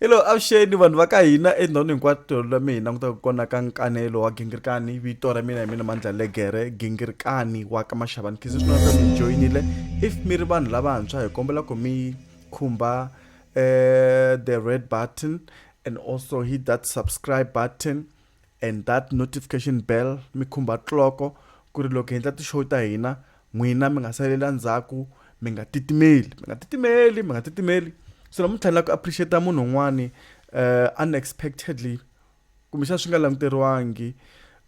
helo avuxeni vanhu va ka hina endhawini hinkwato tolo la mina langutaka kona ka nkanelo wa gingirikani vito ra mina hi mina mandla legere gingirikani wa ka maxavani khizi swi nonaka mi joyinile if mi ri vanhu lavantshwa hi kombela ku mi khumba um the red button and also hit that subscribe button and that notification bell mi khumba cloko ku ri loko hi endla ti-show ta hina n'wina mi nga salela ndzhaku mi nga titimeli mi nga titimeli mi nga titimeli so namuntlha ni lava ku appreciate munhu un'wani uh, unexpectedly kumbexana swi nga languteriwangi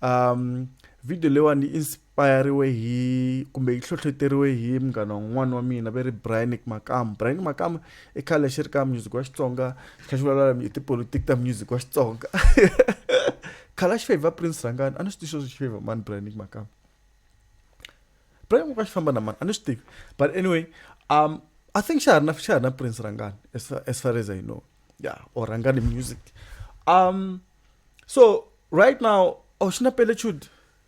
um video leyiwani payariwe hi kumbe yi hlohloteriwe hi munghana wun'wana wa mina ve ri brianic makamu brianic makamu i khale xi ri ka music wa xitsonga xi kha xi vulavula hi tipolotiki ta music wa xitsonga khale a xi favor prince rhangani a ni swi tivi swo xi favor mani brianic makamu brianic makamu xi famba na mani a ni swi tivi but anyway um i think xa ha ri na xa ha ri na prince rhangani as far as, far as i know ya yeah, or rhangani music um so right now oh xi na pelechude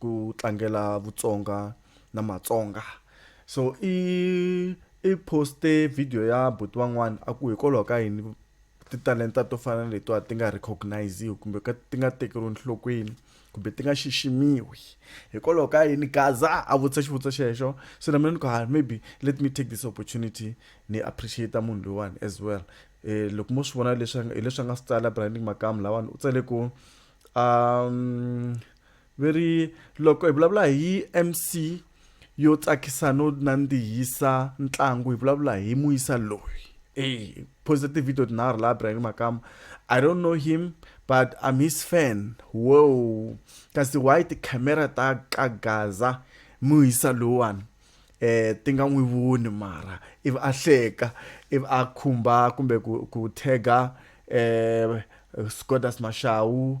ku tlangela vutsonga na matsonga so i i poste video ya buti van'wana a ku hikwalaho ka yini titalenta to fana letiwa ti nga recogniziwi kumbe ti nga tekeriwi enhlokweni kumbe ti nga xiximiwi hikwalaho ka yini gaza a vutisa xivutiso xexo so na mina ni ku ha maybe let me take this opportunity ni appreciate munhu loyiwani as well um loko mo swi vona leswi hileswi a nga swi tsala branding makamu lawani u tsale ku um Va ri, Loko hi vulavula hi MC yo tsakisa no nandzihisa ntlangu hi vulavula hi Muyisa loyi. Hey, posta ti-video tinharhu laha Brian Makama. I don't know him but I'm his fan. Wow. Kasi why ti-camera ta ka Gaza Muyisa lowani? eh ti nga n'wi voni mara ivi a hleka ivi a khumba kumbe ku ku tag-a eh Scodas Mashawu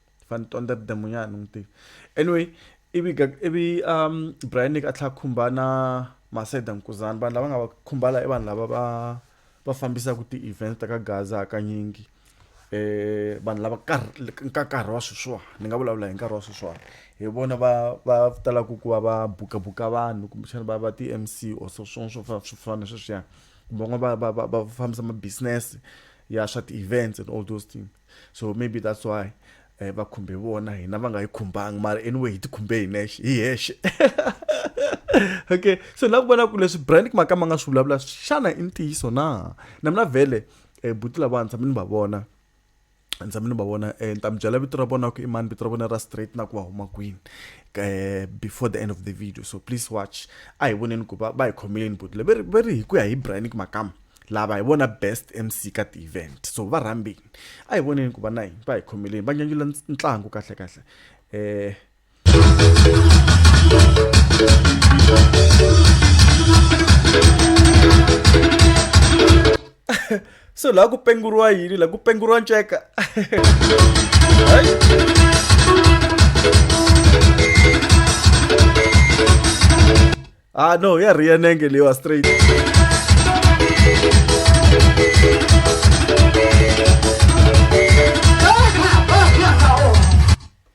va ni tonda tidemunyana ni n'wi tiva anyway ivi ivi um brian nick a tlhela khumba na maseda nkuzana vanhu lava nga va khumbala i vanhu lava va va fambisaka ti-events ta ka gaza hakanyingi eh vanhu lava ka nkarhi wa sweswiwani ni nga vulavula hi nkarhi wa sweswiwani hi vona va va talaka ku va va bukabuka vanhu kumbexana va va ti-m c or swo swo swo swo fana sweswiyani kumbe van'wana va va va va fambisa ma-business ya swa ti-events and all those things so maybe that's why eh, va khumbe vona hina va nga yi khumbanga mara anyway hi ti khumbe hi nexe hi hexe okay so na ku vona ku leswi brand maka ma nga swi vulavula xana i ntiyiso na na mina vhele um buti lava ndza mi ni va vona ndza mi ni va vona um ni ta mi byela vito ra vona ku i mani vito ra vona ra straight na ku va huma kwini um before the end of the video so please watch a hi voneni ku va va hi khomeleni buti le ve ri hi ku ya hi brand makama lava hi vona best mc ka ti-event so va rhambini a hi voneni ku va na yini va hi khomeleni va nyanyula ntlangu kahle kahle eh so laha ku penguriwa yini laha ku penguriwa nceka ah no ya ri ya nenge leyiwa straight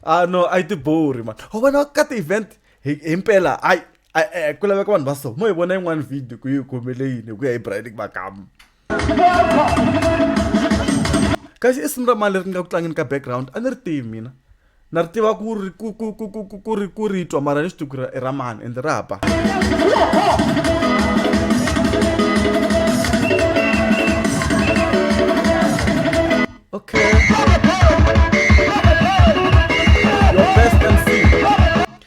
ah no a yi tibori mani ho vona ka ti-event hi hi mpela ai ku laveka vanhu va so mo hi vona yin'wana video ku yi khomele yini hi ku ya hi bride makama kasi i simu ra mani leri ni nga ku tlangeni ka background a ni ri tivi mina na ri tiva ku ri ku ku ku ku ku ku ri ku ri twa mara ni swi tivi ku ri i ra mani ende ra ba okay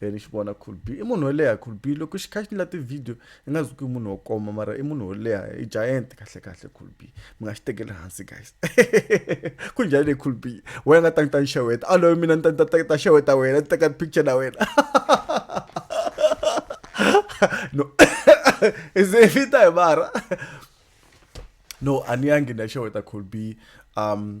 e ni xi vona could be i munhu wo leha could be loko xi kha xi la ti-video i nga zuki i munhu wo koma mara i munhu wo leha i giant kahle kahle could be mi nga xi tekeli hansi guys ku njhani le could be wena nga ta ni ta ni xeweta a loyi mina ni ta ni ta ta xeweta wena ni teka picture na wena no i ze i vita hi mara no a ni yangi ni ya xeweta could be um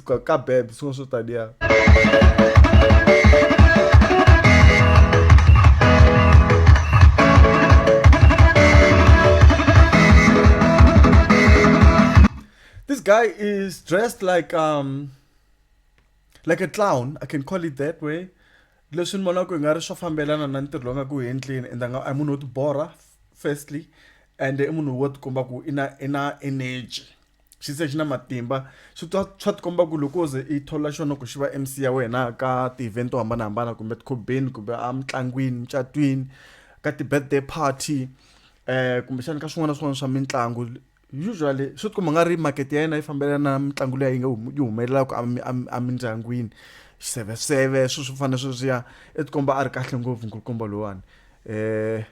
ka, ka bebe swin'wana swo taniya this guy is dressed like um like a clown i can call it that way leswi ni vonaka hi nga ri swo fambelana na ntirho lowu nga ku endleni and nga i munhu wo tibora firstly and i munhu wo tikomba ku i na i na energy xi se xi na matimba swi twa swa tikomba ku loko ze i thola xona ku xi va mc ya wena ka ti-event to hambanahambana kumbe tikhobeni kumbe a mitlangwini mucatwini ka ti-birthday party um kumbexana ka swin'wana na swin'wana swa mitlangu usually swi tikomba nga ri market ya yena yi fambelana na mitlangu leyi yi nga yi humelelaka emindyangwini swiseveseve swilo swo fana na sweswiya i tikomba a ri kahle ngopfu nkulukumba lowuwani Eh.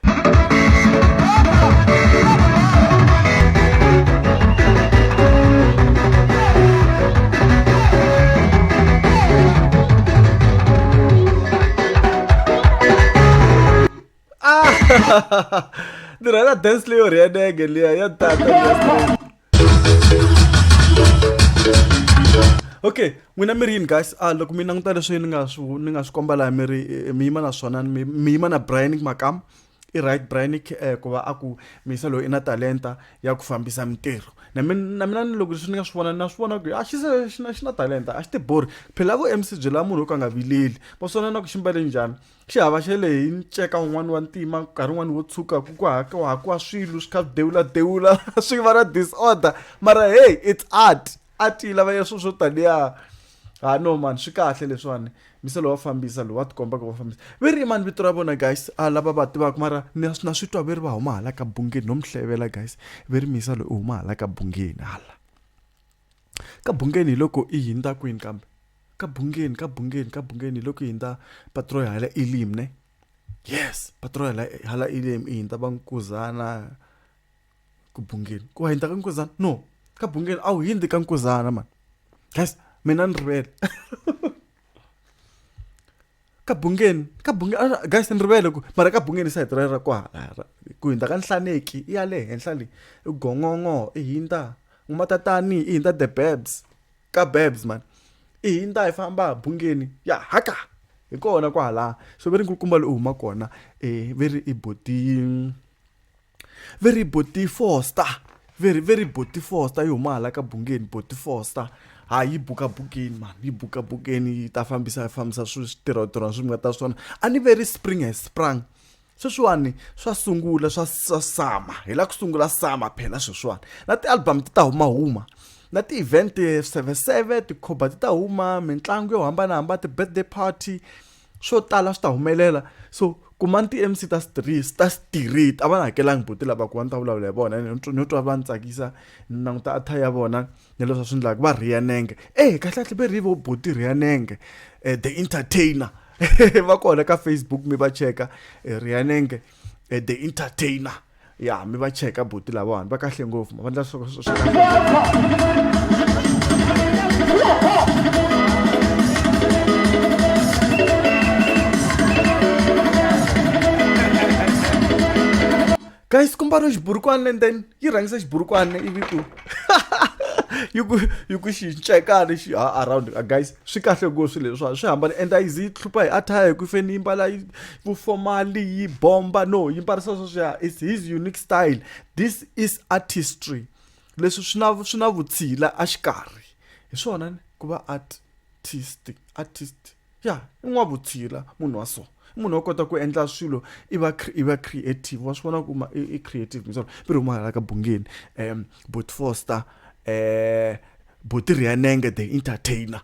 Ah! Dira, ina dance leyo re ya nenge liya ya tata. okay n'wina mi ri yini guys a ah, loko mi languta leswi ni nga swi ni nga swi komba laha mi ri eh, mi yima na swona mi yima na brian makam i right brian eh, ku va a ku misa loyi i na talenta ya ku fambisa mintirho na mina ni loko leswi ni nga swi vona na swi vona ku a ah, xi se xi na xi na talenta a xi tibori phela ku mc byela munhu wo ka nga vileli va swana na ku xi mbale njhani xi hava xe le hi nceka wun'wana wa ntima nkarhi wun'wana wo tshuka ku ku hakiwahakiwa swilo swi kha swi dewuladewula swi va na disorder mara hey it's art art yi lava ya swilo swo taniya ha no mani swi kahle leswiwani mise lowa fambisa lowa tikombaka wa fambisa ve ri mani vito ra vona guys a lava va tivaka mara na swi twa ve ri va huma hala ka bungeni no mi hlevela guys ve ri misa loyi u huma hala ka bungeni hala Ka bungeni hi loko i hindza kwini kambe? Ka bungeni, ka bungeni, ka bungeni hi loko i hindza patroy hala Elim ne? Yes, patroy hala hala Elim i hindza va Nkuzana ku bungeni. Ku hindza ka Nkuzana? No, ka bungeni a wu hindzi ka Nkuzana mani. Guys, mina ni rivele. ka bungeni ka bungeni guys ni rivele ku mara ka bungeni sa hiti ra kwala ku hindza ka nhlaneki i ya le henhla leyi i gongongo i hindza n'wamatatani i hindza the babs ka babs man i hindza hi famba bungeni ya haka hi kona kwala so ve ri nkulukumba loyi u huma kona um ve ri i boti va ri boti foster va ri va ri boti foster yi huma hala ka bungeni boti foster ha yi buka bukeni mani yi buka bukeni yi ta fambisa fambisa swi switirhotirhona swi mi nga ta swona a ni ve ri spring has sprung sweswiwani swa sungula swa swa sama hi la ku sungula sama phela sweswiwani na ti-album ti ta humahuma na ti-event seveseve tikhoba ti ta huma mitlangu yo hambanahambana ti-birthday party swo tala swi ta humelela so kuma ni ti-mc ta street ta street a va na hakelangi buti lava ku va ni ta vulavula hi vona ni twa ni twa va ni tsakisa ni languta attire ya vona ni leswi va swi endlaka va rhiya nenge e kahle kahle ve rhi vo buti rhiya nenge um the entertainer va kona ka facebook mi va cheka eh, rhiya nenge um the entertainer ya mi va cheka buti lavawani va kahle ngopfu ma va ndla swo swa kahle guys ku mbariwa xiburukwana and then yi rhangisa xiburukwana ivi ku yi ku yi ku xi ncekani xi ha around guys swi kahle ngopfu swilo leswiwa swi hambana and a yi zi yi hlupha hi attire hi ku feni yi mbala yi Vufomali yi bomba no yi mbarisa sweswiya is his unique style this is artistry leswi swi na swi na vutshila a xikarhi hi swona ni ku va artist artist ya i n'wa vutshila munhu wa so i munhu wa kota ku endla swilo i va i va creative wa swi vona ku ma i creative misolo mi ri huma hala ka bungeni um bot foster um botirhiyanenge the entertainer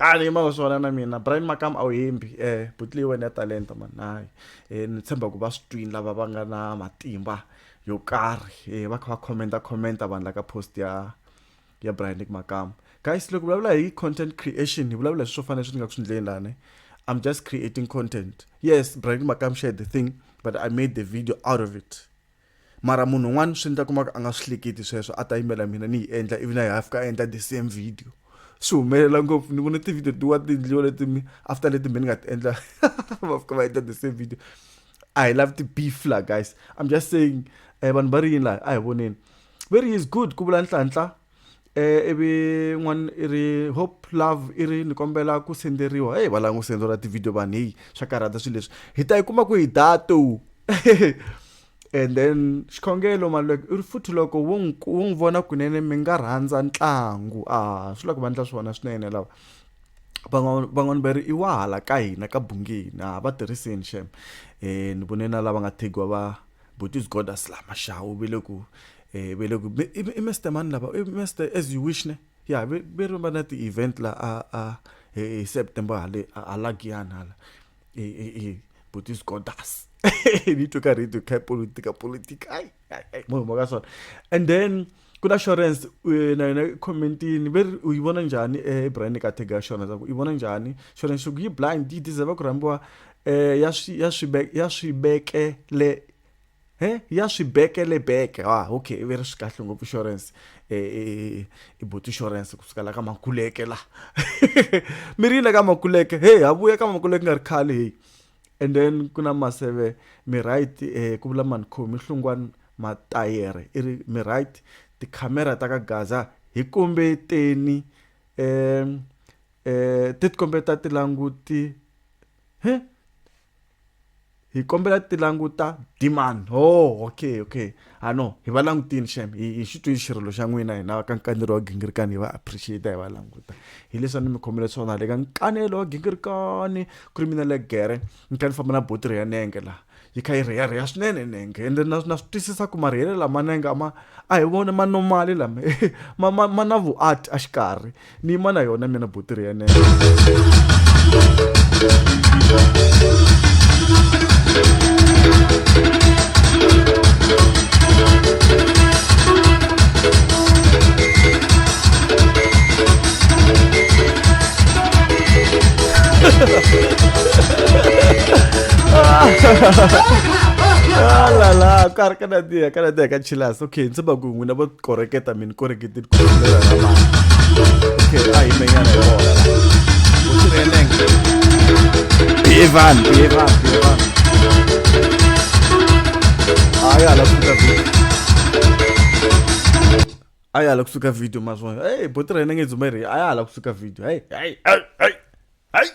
a ni yima swona na mina brian makam a wu hembi eh buti leyi wena ya talenta mani hayi eh, ni tshemba ku va swi twini lava va nga na matimba yo karhi eh, va kha va commenta commenta vanhu la ka post ya ya brian nick makam guys loko vulavula hi content creation hi vulavula hi swo fanele swi ni nga ku swi ndleni lani i'm just creating content yes brian nick makam shared the thing but i made the video out of it mara munhu un'wana swi endla kumaka a nga swi hleketi sweswo a ta yimela mina ni yi endla ivi na yi hafika a endla the same video swi humelela ngopfu ni vona ti-video tiwa ti endliwa leti mi after leti mi ni nga ti endla va fika va endla the same video i love the beef la guys i'm just saying um vanhu va ri yini laha a hi voneni very is good ku vula nhlanhla Eh, ivi n'wana i ri hope love i ri ni kombela ku senderiwa heyi va lava n'wi senderiwa tivhidiyo vanhu heyi swa karhata swilo leswi hi ta yi kuma ku hi dato and then xikhongelo maluleke i ri futhi loko wo n'wi ku- wo n'wi vona kunene mi nga rhandza ntlangu a swi lava ku va ndla swona swinene lava van'wana van'wana va ri i wa hala ka hina ka bungeni a va tirhiseni xem um ni vone na lava nga thegiwa va botis godas la maxawu ve le ku eh ve le ku i i Mr mani lava i Mr as you wish ne ya ve ve ri va na ti event la a a hi September hale a la Giyani hala e e e but is got us ni to karhi to kha politika politika ai ai mo mo ka swona and then ku na assurance eh, na yona commentini ve ri u yi vona njhani eh, ebrand ka tag assurance ku yi vona njhani assurance ku yi blind yi deserve ku rhambiwa um ya swi ya swi ya swi vekele he ya swi bekele beke ah okay ve ri swi kahle ngopfu insurance eh, eh, eh i boti insurance ku fika la ka makuleke la mi ri yile ka makuleke hey ha vuya ka makuleke nga ri khale hey and then ku na maseve mi right eh ku vula mani khomi hlungwani matayere i ri mi right tikhamera ta ka gaza hi kombeteni um um ti ti kombeta tilanguti he hi kombela ti languta demand oh okay okay a ah, no hi va langutini xem hi hi xi twini xirilo xa n'wina hina ka nkanelo wa gingirikani hi va appreciate hi va languta hi leswi a ni mi khomele swona le ka nkanelo wa gingirikani ku ri mina le gere ni kha ni famba na botiri ya nenge laha yi kha yi rheyarheya swinene nenge ende na na swi twisisa ku marheyele lama nenge ma a hi vona ma normali lama ma ma ma na vuart a xikarhi ni yima na yona mina buti ri yenene la la ka ri ka nandziha ka nandziha ka chilasi okay ndzi va ku n'wina vo koreketa mi ni korekete ku tlhela na mali okay a hi menyana hi vona u tirhenenge Evan Evan Evan a ya la kusuka video a ya la kusuka video mazwa hey botirhenenge dzumeri a ya la kusuka video hey hey hey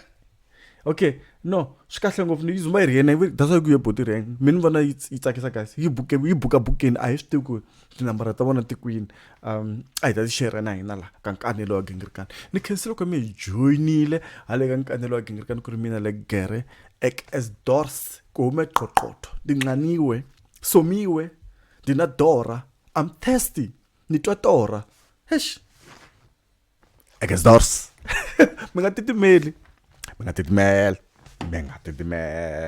okay no swi kahle ngopfu yi zuma yi ri yena that's why ku ye boti rank mi ni vona yi tsakisa guys yi buke yi buka bukeni a hi swi tivi ku tinambara ta vona ti kwini um a hi ta ti share na hina laha ka nkanelo wa gingirikani ni khensile loko mi hi joyinile hale ka nkanelo wa gingirikani ku ri mina le gere ek as dors ku hume qoqotho ndinqaniwe somiwe ndina dora i'm thirsty ni twa tora hesh against us mi nga titimeli mi nga titimela mi nga titimela